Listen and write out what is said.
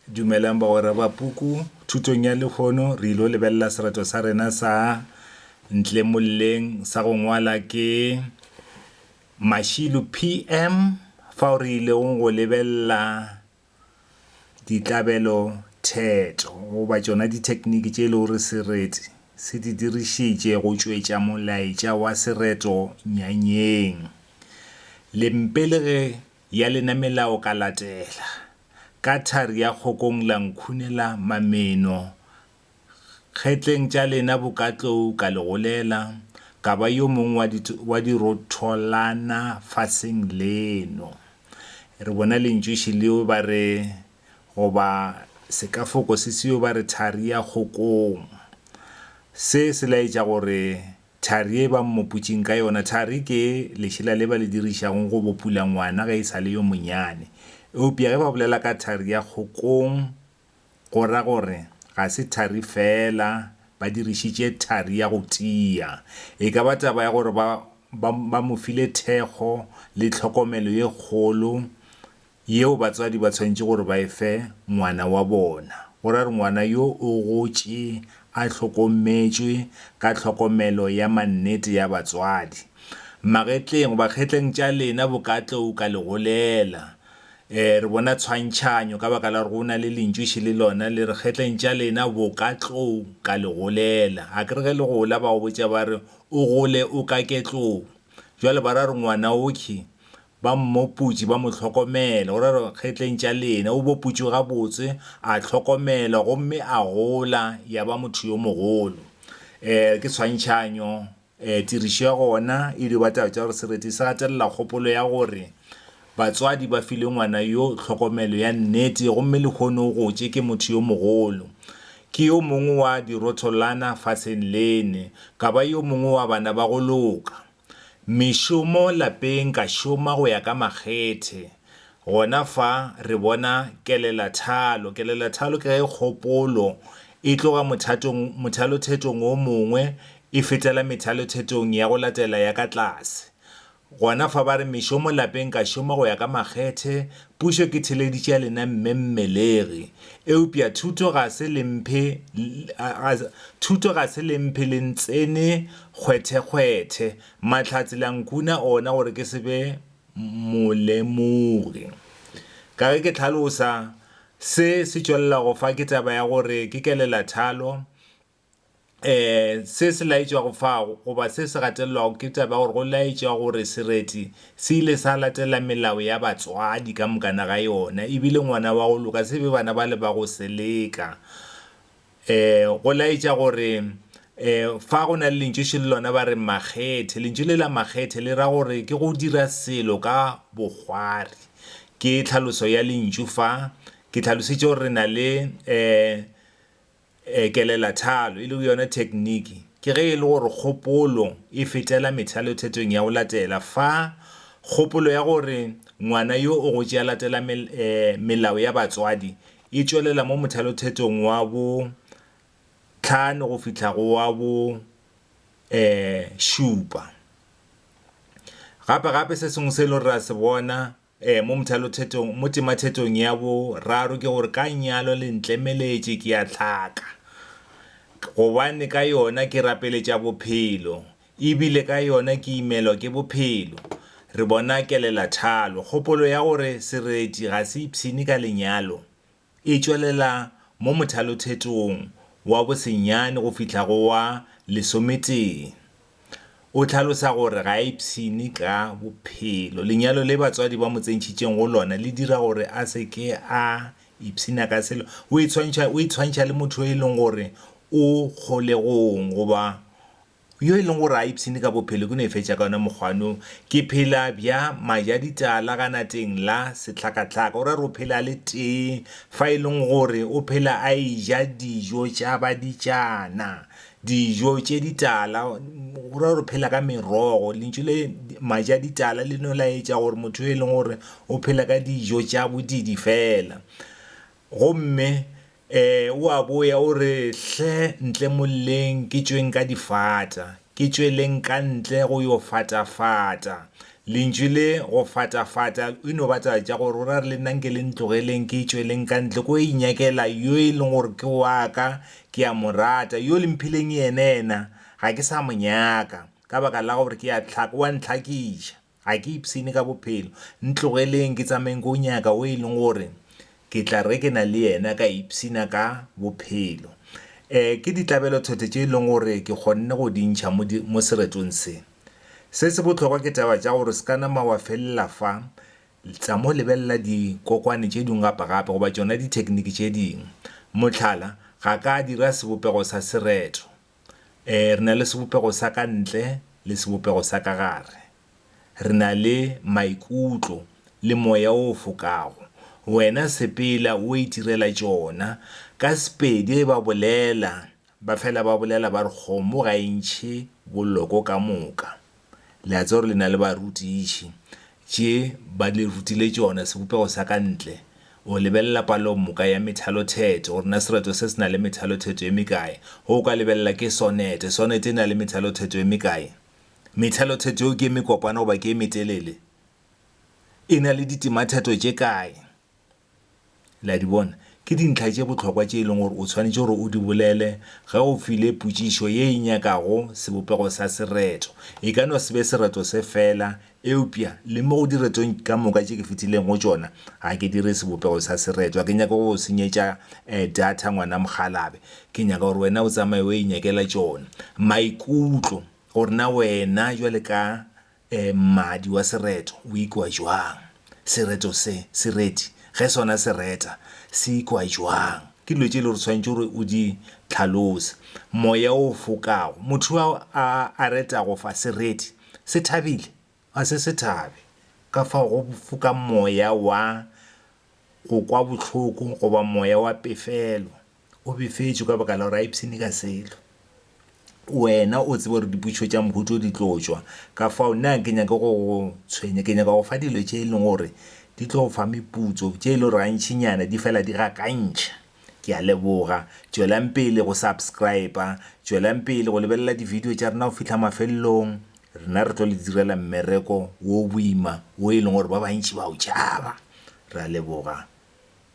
Dumelang bagwera ba puku. Thutong ya lehono re ilo lebelela serato sa rena sa ntle molleng sa go ngwala ke Mashilo PM fao re ilego go lebelela ditlabelo theto goba tšona dithekiniki tše e lego gore sereti se di dirišitše go tšwetša molaetša wa sereto nyanyeng. Lempe le ge Ya lena melao ka latela. Ka thari ya kgokong la nkhunela mameno Kgetleng tša lena bokatlou ka le golela Ka ba yo mong wa di wa dirotholana faseng leno Re bona lentšoši leo ba re Goba sekafoko se seo ba re thari ya kgokong Se se laetša gore Thari ye ba mmopotšeng ka yona, Thari ke lešela le ba le dirišago go bopula ngwana ge e sa le yo monyane. Eupja ge ba bolela ka thari ya kgokong, go ra gore ga se thari feela, ba dirišitše thari ya go tia. E ka ba taba ya gore ba, ba, ba mo file thekgo le tlhokomelo ye kgolo yeo batswadi ba tshwanetše gore ba e fe ngwana wa bona, go ra re ngwana yo o gotše a hlokometšwe ka tlhokomelo ya mannete ya batswadi. Magetleng goba kgetleng tša lena bo ka tlou ka legolela. E, re bona tshwantšhanyo ka baka la gore go na le lentšuši le lona le re kgetleng tša lena bo ka tlou ka legolela. A ke re ge le gola ba go botša ba re o gole o kake tlou. Jwale ba ra re ngwana oky Ba mmoputši, ba mo hlokomela. O ra re, Ge tleng tša lena. O boputši gabotse, a hlokomelwa, gomme a gola ya ba motho yo mogolo. Ee, ke tshwantšhanyo. Ee, tirišo ya gona e dio ba taba tša gore sereti se gatelela kgopolo ya gore batswadi ba file ngwana yo tlhokomelo ya nnete gomme lehono o gotše ke motho yo mogolo. Ke yo mongwe wa dirotholana fafseng lene, ka ba yo mongwe wa bana ba go loka. Mešomo lapeng ka šoma go ya ka makgethe. Gona fa re bona kelelathalo. Kelelathalo ke ge kgopolo e tloga mothatong, mothalothetong o mongwe e fetela methalothetong ya go latela ya ka tlase. Gona fa ba re mešomo lapeng ka šoma go ya ka makgethe, pušo ke theleditše ya lena mme mmelegi. Eupša thuto ga se le mphe, thuto ga se le mphe le ntsene Kgwethekgwethe, Mahlatse la nkuna ona gore ke se be molemogi. Ka ge ke hlalosa, se se tšwelelago fa ke taba ya gore ke kelelathalo. Se se laetšwago fa, goba se se gatelelwago ke taba ya gore go laetšwa gore sereti se ile sa latela melao ya batswadi ka mokana ga yona, e bile ngwana wa go loka se be bana bale ba go seleka. E, go laetša gore, e, fa go na le lentšu šele lona ba re makgethe. Lentšu le la makgethe le ra gore ke go dira selo ka bokgwari. Ke tlhaloso ya lentšu fa. Ke hlalosetše gore re na le, e, e, kelelathalo, e lego yona thekniki. Ke ge e le gore kgopolo e fetela methalothetong ya go latela fa, kgopolo ya gore ngwana yo o gotše a latela mel, e, melao ya batswadi e tšwelela mo mothalothetong wa bo tlhano go fihla go wa bo um šupa gape gape se sengwe se e le gore ra se bona um mo mothalothetong mo temathetong ya bo raro ke gore ka nyalo le ntlemeletše ke ya tlhaka gobane ka yona ke rapeletša bophelo E bile ka yona ke imelwa ke bophelo. Re bona kelelathalo. Kgopolo ya gore sereti ga se ipshine ka lenyalo e tšwelela mo mothalothetong wa bosenyane go fihla go wa lesometee. O hlalosa gore ga a ipshine ka bophelo. Lenyalo le batswadi ba mo tsentšhitšeng go lona le dira gore a se ke a ipshina ka selo. O itshwantšha, o itshwantšha le motho yo e leng gore o kgolegong goba Yo e leng gore a ipshine ka bophelo ke no e fetša ka yona mokgwano, ke phela bja majaditala ganateng la sehlakahlaka. O ra re o phela a le tee fa e leng gore o phela a eja dijo tša baditšana, dijo tše ditala, o ra gore o phela ka merogo. Lentšu le majaditala le no laetša gore motho yo e leng gore o phela ka dijo tša bodiidi fela. Gomme Ee, o a boya o re, Hle ntle molleng ke tšweng ka difata, ke tšweleng ka ntle go yo fatafata. Lentšu le go fatafata e no ba taba tša gore o ra re le nna nke le ntlogeleng ke tšweleng ka ntle ko inyakela yo e leng gore ke wa ka, ke a mo rata, yo le mphileng yena yena ga ke sa mo nyaka ka baka la gore ke a tlhaka, o a ntlhakiša. Ga ke ipshine ka bophelo. Ntlogeleng ke tsamaeng ko nyaka o e leng gore ke tla re ke na le yena ka ipshina ka bophelo. Um ke ditlabelo-thotho tše e leng gore ke kgonne go di ntšha mo di mo seretong se. Se se bohlokwa ke taba tša gore se ka nama wa felela fa, tsa mo lebelela dikokwane tše dingwe gape-gape goba tšona dithekniki tše dingwe. Mohlala, ga ka dira sebopego sa sereto. Ee, re na le sebopego sa ka ntle le sebopego sa ka gare. Re na le maikutlo le moya o fokago. Wena sepela o itirela tšona. Ka Sepedi ba bolela, ba fela ba bolela ba re kgomo ga e ntšhe boloko ka moka. Le a tseba gore le na le barutiši. Tše ba le rutile tšona, sebopego sa ka ntle. O lebelela palomoka ya methalotheto, gore na sereto se se na le methalotheto e mekae. Ge o ka lebelela, ke sonete. Sonete e na le methalotheto e mekae? Methalotheto yeo ke e mekopana goba ke e metelele? E na le ditematheto tše kae? Le a di bona? Ke dintlha tše bohlokwa tše e leng gore o swanetše gore o di bolele ge o file potšišo ye e nyakago sebopego sa sereto. E ka no se be sereto se feela, eupša le mo go diretong ka moka tše ke fetileng go tšona, ga ke dire sebopego sa sereto. Ga ke nyake go go senyetša data, ngwana mokgalabje. Ke nyaka gore wena o tsamaye o inyakela tšona. Maikutlo, gore na wena bjale ka Mmadi wa sereto o ikwa jwang? Sereto se, sereti, ge sona se reta, se ikwa jwang? Ke dilo tše e lego gore o swanetše gore o di tlhalose. Moya o fokago. Motho yo a, a retago fa sereti, se thabile? Ga se se thabe. Ka fao go foka moya wa go kwa bohloko goba moya wa pefelo. O befetšwe ka baka la gore a ipshine ka selo. Wena o tseba gore dipotšišo tša mohu tšo di tlo tšwa, ka fao nna ga ke nyake go go tshwenya. Ke nyaka go fa dilo tše e leng gore di tlo go fa meputso, tše e lego gore gantšinyana di fela di gakantšha. Ke a leboga. Tšwelang pele go subscriber. Tšwelang pele go lebelela di-video tša rena go fihla mafelelong. Rena re tlo le direla mmereko wo boima wo e leng gore ba bantši ba o tšhaba. Re a leboga.